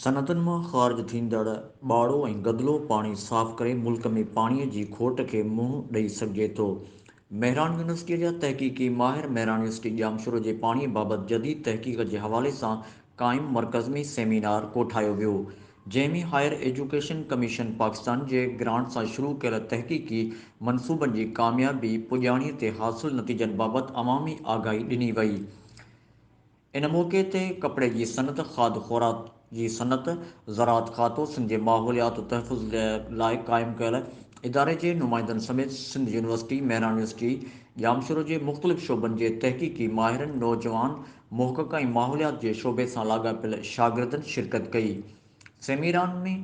صنعتن مان خارج ٿيندڙ ٻاڙو ۽ گدلو پاڻي صاف ڪري ملڪ ۾ پاڻي جي کوٽ کي منهن ڏئي سگهجي ٿو. مهراڻ يونيورسٽيء جا تحقيقي ماهر مهراڻ يونيورسٽي ڄامشورو جي پاڻي بابت جديد تحقيق جي حوالي سان قائم مرڪز ۾ سيمينار ڪوٺايو ويو، جنهن ۾ هائير ايجوڪيشن ڪميشن پاڪستان جي گرانٽ سان شروع ڪيل تحقيقي منصوبن جي ڪاميابي پڄاڻي تي حاصل نتيجن بابت عوامي آگاهي ڏني وئي. ان موقعي تي ڪپڙي جي صنعت، کاڌ خوراڪ جي صنعت، زراعت کاتو، سنڌ جي ماحوليات تحفظ لاء قائم ڪيل اداري جي نمائندن سميت سنڌ يونيورسٽي، مهراڻ يونيورسٽي، ڄامشورو جي مختلف شعبن جي تحقيقي ماهرن، نوجوان محقق ۽ ماحوليات جي شعبي سان لاڳاپيل شاگردن شرڪت ڪئي. سيميران ۾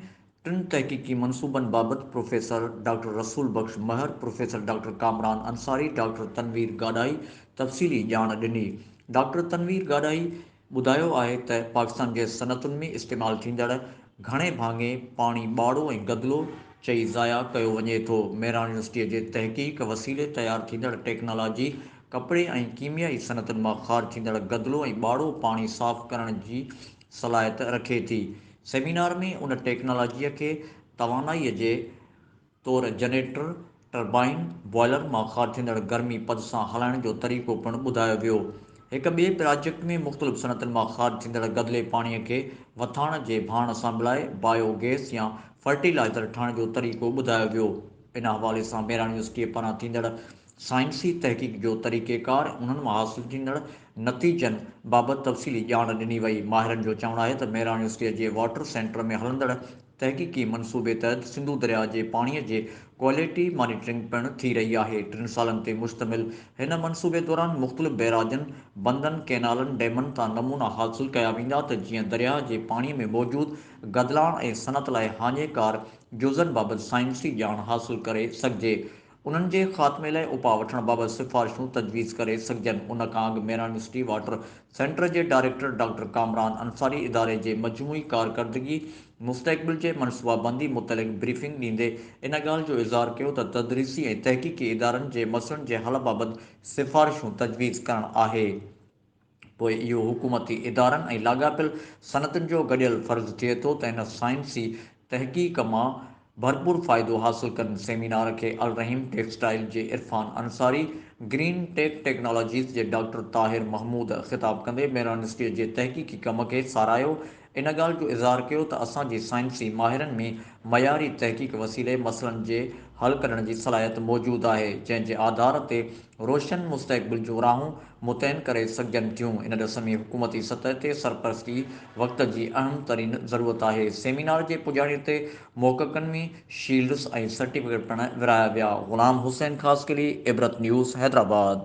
ٽن تحقيقي منصوبن بابت professor doctor Rasool Bakhsh Mehar, professor doctor Kamran Ansari, doctor Tanveer Gadahi تفصيلي ڄاڻ ڏني. ڊاڪٽر تنوير گاڏاهي ٻڌايو آهي ته پاڪستان جي صنعتن ۾ استعمال ٿيندڙ گهڻي ڀاڱي پاڻي ٻاڙو ۽ گدلو چئي ضايع ڪيو وڃي ٿو. ميران يونيورسٽيء جي تحقيق وسيلي تيار ٿيندڙ ٽيڪنالاجي ڪپڙي ۽ ڪيميائي صنعتن مان خارج ٿيندڙ گدلو ۽ ٻاڙو پاڻي صاف ڪرڻ جي صلاحيت رکي ٿي. سيمينار ۾ ان ٽيڪنالاجيء کي توانائيء جي طور جنريٽر، ٽربائن، بوائلر مان خارج ٿيندڙ گرمي پد سان هلائڻ جو طريقو پڻ ٻڌايو ويو. هڪ ٻئي پراجيڪٽ ۾ مختلف صنعتن مان خارج ٿيندڙ گدلي پاڻيء کي وٿاڻ جي ڀاڻ سان ملائي بايو گئس يا فرٽيلائزر ٺاهڻ جو طريقو ٻڌايو ويو. ان حوالي سان ميران يونيورسٽيء پاران ٿيندڙ سائنسي تحقيق جو طريقيڪار، انهن مان حاصل ٿيندڙ نتيجن بابت تفصيلي ڄاڻ ڏني وئي. ماهرن جو چوڻ آهي ته ميراڻ يونيورسٽيء جي واٽر سينٽر ۾ هلندڙ تحقيقي منصوبي تحت سنڌو درياء جي پاڻيء جي ڪوالٽي مانيٽرنگ پڻ ٿي رهي آهي. ٽن سالن تي مشتمل هن منصوبي دوران مختلف بئراجن، بندن، ڪئنالن، ڊيمن تان نمونا حاصل ڪيا ويندا ته جيئن درياء جي پاڻيء ۾ موجود گدلاڻ ۽ صنعت لاء هاڃيڪار جزن بابت سائنسي ڄاڻ حاصل ڪري سگهجي. انهن جي خاتمي لاء اپاء وٺڻ بابت سفارشون تجويز ڪري سگهجن، ان کان اڳ ميران سٽي واٽر سينٽر جي ڊائريڪٽر ڊاڪٽر ڪامران انصاري اداري جي مجموعي ڪارڪردگي مستقبل جي منصوبابندي متعلق بريفنگ ڏيندي ان ڳالهه جو اظهار ڪيو ته تدريسي ۽ تحقيقي ادارن جي مسئلن جي حل بابت سفارشون تجويز ڪرڻ آهي. پوء اهو حڪومتي ادارن ۽ لاڳاپيل صنعتن جو گڏيل فرض ٿئي ٿو ته هن سائنسي تحقيق مان ڀرپور فائدو حاصل ڪن. سيمينار کي الرحيم ٽيڪسٽائيل جي Irfan Ansari, green tech technologies جي ڊاڪٽر طاهر محمود خطاب ڪندي ميرانسٽي جي تحقيقي ڪم کي ساراهيو ان ڳالهه جو اظهار ڪيو ته اسان جي سائنسي ماهرن ۾ معياري تحقيق وسيلي مسئلن جي حل ڪڍڻ جي صلاحيت موجود آهي، جنهن جي آڌار تي روشن مستقبل جون راهون متعين ڪري سگهجن ٿيون، ان ڏس ۾ حڪومتي سطح تي سرپرستي وقت جي اهم ترين ضرورت آهي، سيمينار جي پڄاڻي تي محققن ۾ شيلڊز ۽ سرٽيفڪيٽ پڻ ورهايا ويا. غلام حسين خاصخيلي، عبرت نيوز، حيدرآباد.